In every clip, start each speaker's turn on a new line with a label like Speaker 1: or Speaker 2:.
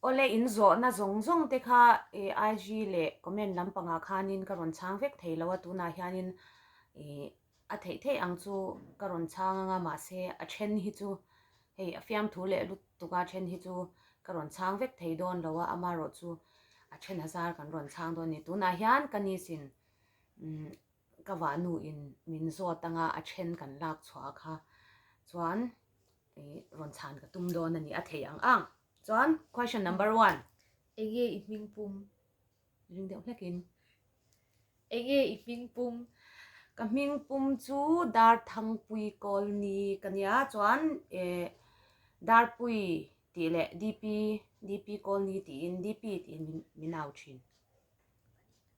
Speaker 1: Awle in zawhna zawng zawng te kha IG leh comment lampangah khanin ka rawn chhang vek thei lo a, tunah hianin ih a theih theih ang chu ka rawn chhang anga mahse a then hi chu hei a fiamthu leh lutuka then hi chu ka rawn chhang vek thei dawn lo a, amarawhchu a thena zar kan rawn chhang dawn a ni. Tunah hian ka nisin umm. Ka vahnu in min zawt anga a then kan lak chhuah kha chuan rawn chhan ka tum dawn a ni a thei ang ang. Chuan question number one. Enge i hming pum? Ring deuh hlek in. Enge i hming pum? Ka hming pum chu Dar Thangpui Kawl ni ka nia chuan e Dar Pui tih leh DP DP Kawl ni tiin DP tiin min min au thin.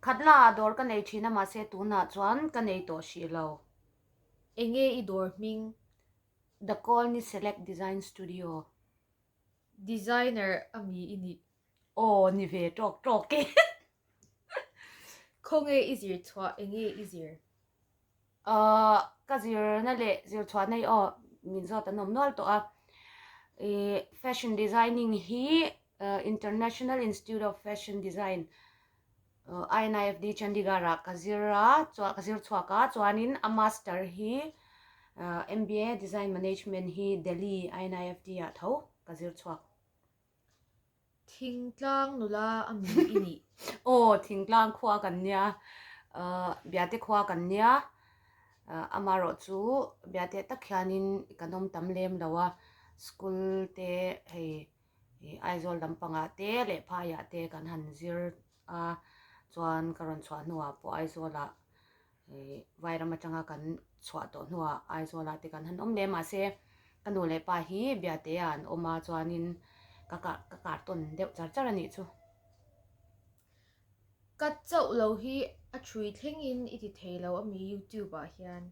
Speaker 1: Khat laah dawr ka nei thin a mahse tunah chuan ka nei tawh hrih lo. Enge i dawr hming? The Colony Select Design Studio. Designer a mi i nih? Aw ni ve tawk tawk e. Khawnge i zir chhuah? Enge i zir? Ahh, ka zirna leh zirchhuahna hi aw min zawt an awm nual tawh a. Ihh fashion designing hi International Institute of Fashion Design, INIFD, Chandigarh ah ka zir a, chuan ka zir chhuak a, chuanin a master hi ahh MBA Design Management hi Delhi INIFD ah tho ka zir chhuak. Thingtlang nula a mi i nih. Aw, Thingtlang khua kan nia, Biate khua kan nia, amarawh chu Biate tak hianin i kan awm tam lem lo a, school te hei Aizawl lampangah te leh phaiah te kan han zir a, chuan ka rawn chhuah hnuah pawh Aizawlah Vai ram atanga kan chhuah tawh hnuah Aizawlah te kan han awm leh. Mahse, ka nu leh pa hi Biateah an awm a chuanin ka ka kar tawn deuh char char a nih chu. Ka chauh lo hi a ṭhui thlengin i ti thei lo a mi YouTube-ah hian.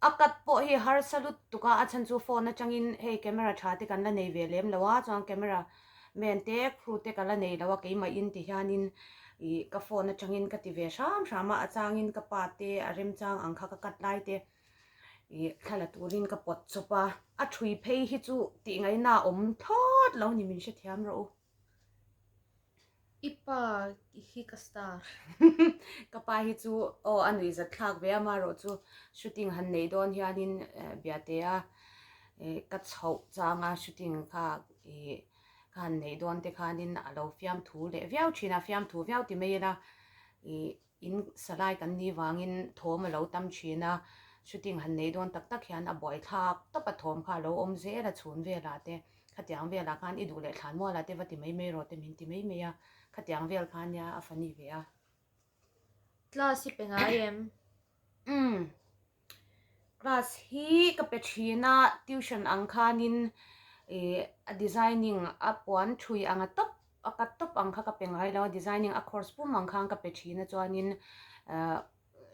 Speaker 1: A cut pawh hei harsa lut tuk a, a chhan chu phone atangin hei camera tha te kan la nei ve lem lo a, chuan camera man te crew te ka la nei lo a, keimahin ti hianin ih ka phone atangin ka ti ve hram hram a, a changin ka pa te a remchang ang kha ka cut lai te ih thla la turin ka pawt chawp a, a ṭhui phei hi chu tih ngaihna awm thlawt lo ni min hrethiam rawh u. I pa hi ka star. ka pa hi chu aw a nui zat thlak ve a marawh chu shooting han nei dawn hianin eh, biate a eh, ka chhoh changa shooting kha eh, ka han nei dawn te khanin a lo fiam thu leh viau thin a fiam thu viau ti mai ila eh, In salai kan ni vangin thawm a lo tam thin a, shooting han nei dawn tak tak hian a buai thlap tawp a thawm kha a lo awm zel a, chhun velah te, khatiang velah khan i duh leh thlan mualah te va ti mai mai rawh te min ti mai mai a, khatiang vel khan nia a funny ve a. Class hi pe ngai em? Umm. Class hi ka pe thin a, tuition ang khanin eh a designing a puan thui ang a tawp a cut tawp ang kha ka pe ngai lo a, designing a course pum ang khan ka pe thin a chuanin eh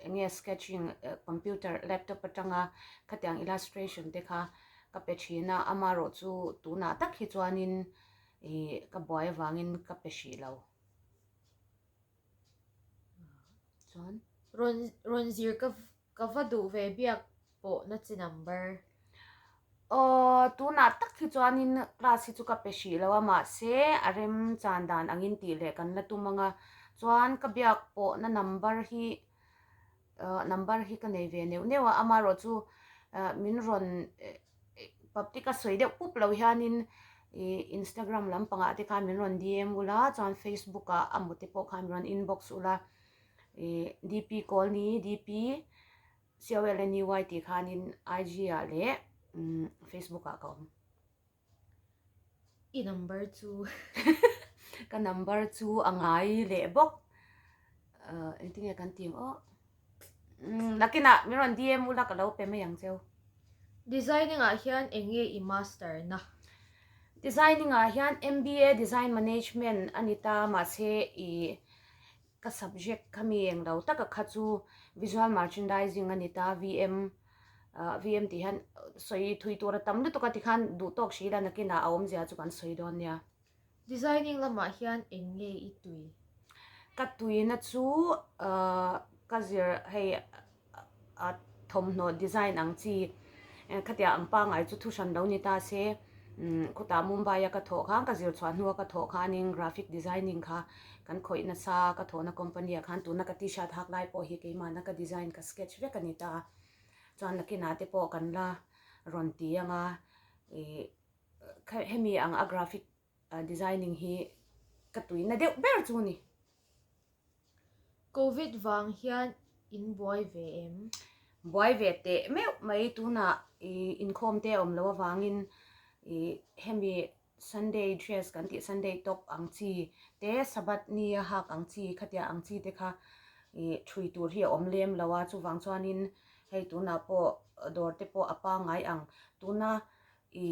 Speaker 1: eng nge sketching eh computer laptop atanga khatiang illustration te kha ka pe thin a, amarawh chu tunah tak hi chuanin eh ka buai avangin ka pe hrih lo. Chuan rawn rawn zir ka ka va duh ve biak pawh na chi number. Aww tunah tak hi chuanin class hi chu ka pe hrih lo a mahse a rem chan dan angin tih leh kan la tum anga chuan ka biak pawhna number hi. Ahh number hi ka nei ve neuh neuh a, amarawh chu min rawn paptic a sawi deuh pup lo hianin ih instagram lampangah te khan min rawn dm ulh a, chuan facebook ah a mute pawh khan min rawn inbox ulh a, ih DP Colony, DP Colony tih khanin IG ah leh umm facebook ah ka awm. I number chu ka number chu a ngai leh bawk uh engtin nge kan tih ang awh umm Nakina min rawn dm ula ka lo pe mai ang cheu. Designing ah hian eng nge i master na? Designing ah hian MBA design management a ni ta mahse i Ka subject kha mi eng lo taka kha chu Visual Merchandising a ni ta, VM, VM tih hian sawi thui tur a tam lutuk a tikhan duh tawk hrih ila nakinah a awm zia chu kan sawi dawn nia. Designing lamah hian eng nge i tui? Ka tuina chu ka zir hei a thawmhnaw design ang chi khatiang ang pangai chu thu hran lo ni ta se khutah mumbai a ka thawh khan ka zir chhuah hnua ka thawh khanin graphic designing kha kan khawih nasa ka thawhna company ah khan tuna ka t shirt hak lai pawh hi keimahna ka design ka sketch vek a ni ta chuan nakinah te pawh kan la rawn ti anga ih hemi ang a graphic . A designing hi ka tui na deuh ber chu ni. Covid vang hian in buai ve em? Buai ve teh meuh mai tunah i inkhawm te awm lo avangin i hemi Sunday dress kan tih Sunday top ang chi te Sabbath ni a hak ang chi khatiah ang chi te kha i thui tur hi a awm lem lo a chuvang chuanin hei tunah pawh dawr te pawh a pangai ang tuna i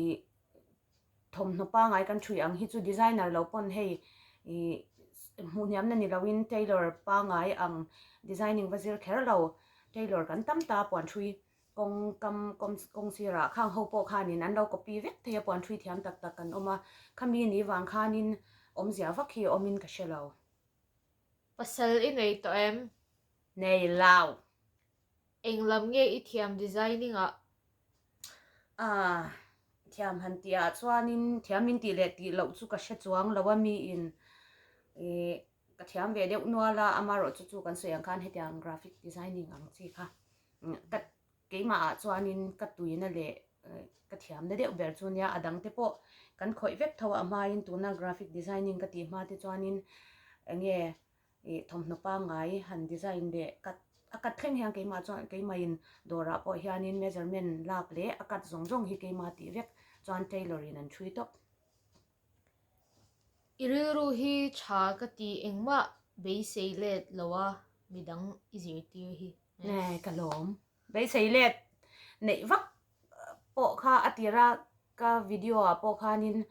Speaker 1: thawmhnaw pangai kan ṭhui ang hi chu designer lo pawn hei ihh hmuhniamna ni loin tailor pangai ang designing va zir kher lo tailor kan tam ta a puan ṭhui kawng kam kawng sirah khang ho pawh khanin an lo copy vek thei a puan ṭhui thiam tak tak kan awm a khami a nih vang khanin awmzia vak hi awmin ka hre lo. Pasal i nei tawh em? Nei lo. Eng lam nge i thiam designing ah? Aah, thiam han tih ah chuanin thiam min tih leh tih loh chu ka hre chuang lo a miin ih ka thiam ve deuh nual a, amarawh chu chu kan sawi ang khan hetiang graphic designing ang chi kha. Ka keimah ah chuanin ka tuina leh ka thiamna deuh ber chu nia a dangte pawh kan khawih vek tho a, amain tuna graphic designing ka tih hma te chuanin eng nge ih thawmhnaw pangngai han design leh cut a cut thleng hian keimah chuan keimahin dawrah pawh hianin measurement lak leh a cut zawng zawng hi keima tih vek chuan tailor in an thui tawp i rilru hi tha ka ti engmah beisei let loa midang i zirtir hi nge ka lawm. Beisei let neih vak pawh kha a tir a, ka video ah pawh khanin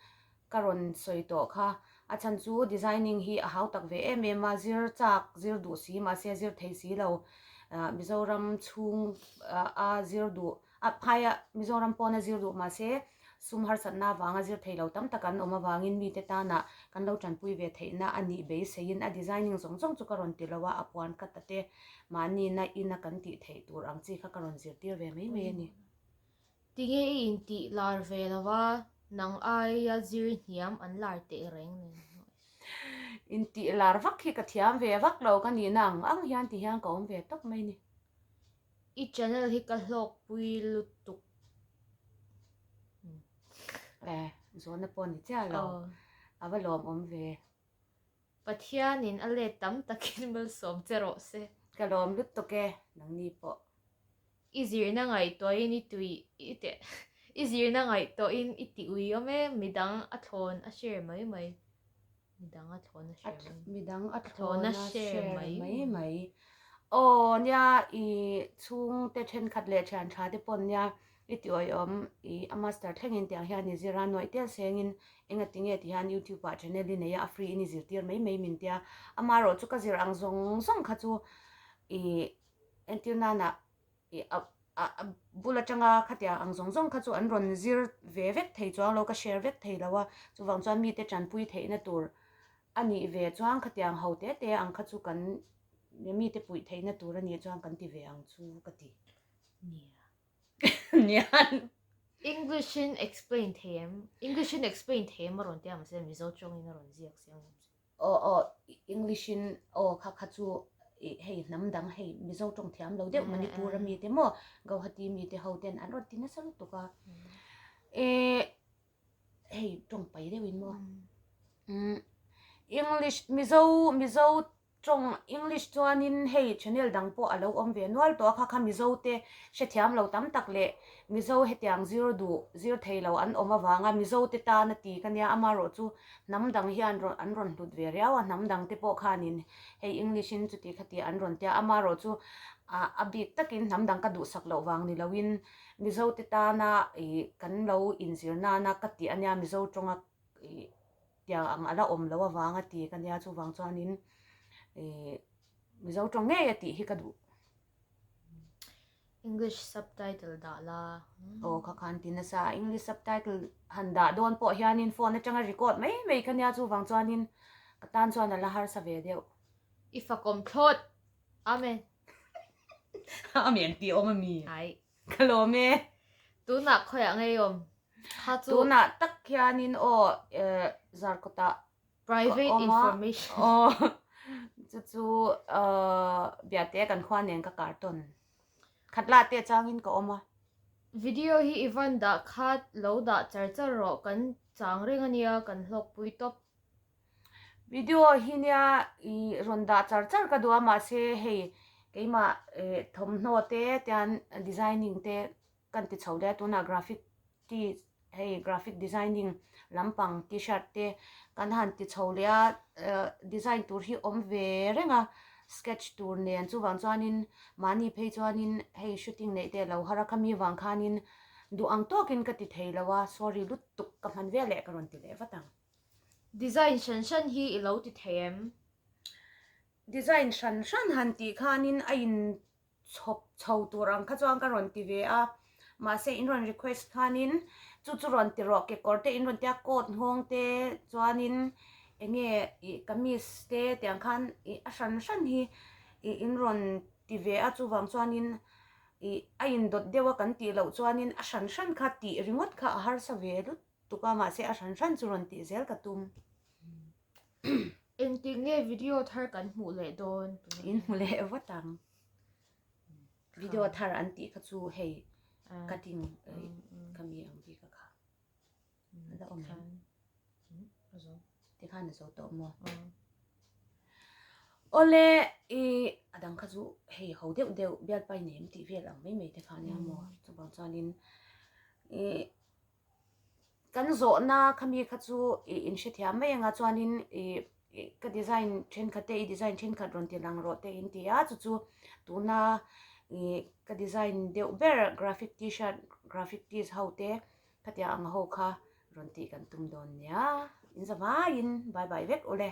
Speaker 1: ka rawn sawi tawh kha. A chhan chu designing hi a hau tak ve em em a, zir chak zir duh si mahse zir thei si lo. Mizoram chhung a zir duh, a phai a, Mizoram pawn a zir duh mahse Sum harsatna avanga zirthei lo tam tak an awm avangin mite tana kan lo tanpui ve theihna a nih beiseiin a designing zawng zawng chu ka rawn ti lo a, a puan cut a te, mahnina ina kan tih theih tur ang chi kha ka rawn zirtir ve mai mai a ni. Tinge i intih lar ve lo a, nang aia zirhniam an lar teh reng nen hnu e. Intih lar vak hi ka thiam ve vak lo ka nihna ang ang hian ti hian ka awm ve tawp mai ni. I channel hi ka hlawk pui lutuk. Eh zawhna pawh ni chiah lo a va lawm awm ve. Pathian in a let tam takin malsawm che rawh se. Ka lawm lutuk e nangni pawh. I zirna ngaihtuah in i tui i zirna ngaihtuah in i ti ui awm e midang a thlawn a share mai mai. Midang a thlawh na share mai. Midang a thlawh na share mai mai. Aw nia i chhung te then khat leh thian tha te pawn nia i ti awih awm i a master thleng in tiang hian i zir a nuaih tel seng in enga ti nge ti hian youtube ah channel i nei a a free in i zir tir mai mai min tia ama erawh chu ka zir ang zawng zawng kha chu i entir nan ah a bul atanga khatiang ang zawng zawng kha chu an rawn zir ve vek thei chuang lo ka share vek thei lo a chuvang chuan mite tanpui theihna tur a nih ve chuang khatiang ho te te ang kha chu kan mite pui theihna tur a nih chuang kan ti ve ang chu ka ti English in explain thei em English in explain thei em a rawn ti ang mahse Mizo tawngin a rawn ziak siam lo. Aw aw English in aw kha kha chu hei hnam dang hei Mizo tawng thiam lo deuh Manipur a mi te maw Guwahati mi te ho ten an rawn ti nasa lutuk a ehh hei tawng pai deuh in maw English Mizo Mizo tawng English chuan in hei channel dang pawh a lo awm ve nual tawh a kha kha Mizo te hre thiam lo tam tak leh Mizo hetiang zir duh zir thei lo an awm avang a Mizo te tan a ti ka nia amaherawh chu Hnam dang hian rawn an rawn hlut ve riau a, hnam dang te pawh khanin hei English in chuti khatia an rawn tia. Amarawh chu ah a bik takin hnam dang ka duhsak loh vang ni loin Mizo te tana ih kan lo inzir nana ka tih a nia, Mizo tawnga ih tia ang a la awm loh avang a ti ka nia. Chuvang chuanin ih Mizo tawng ngei a tih hi ka duh. English subtitle dah la. O kha khan ti na sa English subtitle han dah don po hian in phone atanga record mai mai kha nia chu wang chuan in ka tan chuan ala har sa ve deuh. I fa kom thlot. Amen. Amen ti om ami. Ai. Kalom e. Tuna khoi a ngei om. Kha chu. Tuna tak hian in o zarkawta Private information. Ka awm a, aw. Chu chu aw Biate kan khuaa nen ka kar tawn. Khat la te changin ka awm a. Video hi i van dah khat lo dah char char rawh, kan chang reng a nia, kan hlawkpui tawp. Video hi nia i rawn dah char char ka duh a, mahse hei keimah thawmhnaw te, chuan designing te Kan ti chho daih tunah graphic ti hei graphic designing lampang T-shirt te kan han ti chho leh a, design tur hi awm ve reng a, sketch tur nen chuvang chuanin mahni phei chuanin hei shooting neih te lo hara khami vang khanin duh ang tawkin ka ti thei lo a, sorry lutuk ka hman vial leh ka rawn ti leh vat ang. Design hran hran hi i lo ti thei em? Design hran hran han tih khanin a in chhawp chho tur ang kha chuan ka rawn ti ve a mahse in rawn request khanin chu chu rawn ti rawh kekawr te in rawn tia coat nghawng te chuanin eng nge ih kamis te tiang khan ih a hran hran hi ih in rawn ti ve a chuvang chuanin ih a indawt deuh a kan tih loh chuanin a hran hran kha tih ringawt kha a harsa ve lut. tuk a mahse a hran hran chu rawn tih zel ka tum engtin nge video thar kan hmuh leh dawn in hmu leh vat ang video thar an tih kha chu hei cutting ka mi ang bik a kha a da awm em ti khan a zo tawh maw awle i a dang kha chu hei ho deuh deuh bial pai nem tih vel ang mai mai te kha nia maw chubang chuan in i kan zawhna khami kha chu ih in hrethiam mai anga chuanin ih ih ka design thenkhat te i design thenkhat rawn ti lang rawh teh in ti a chu chu tuna ih ka design deuh ber graphic tshirt graphic tees ho te khatiang ang ho kha rawn tih kan tum dawn nia in zavaiin bye bye vek ule.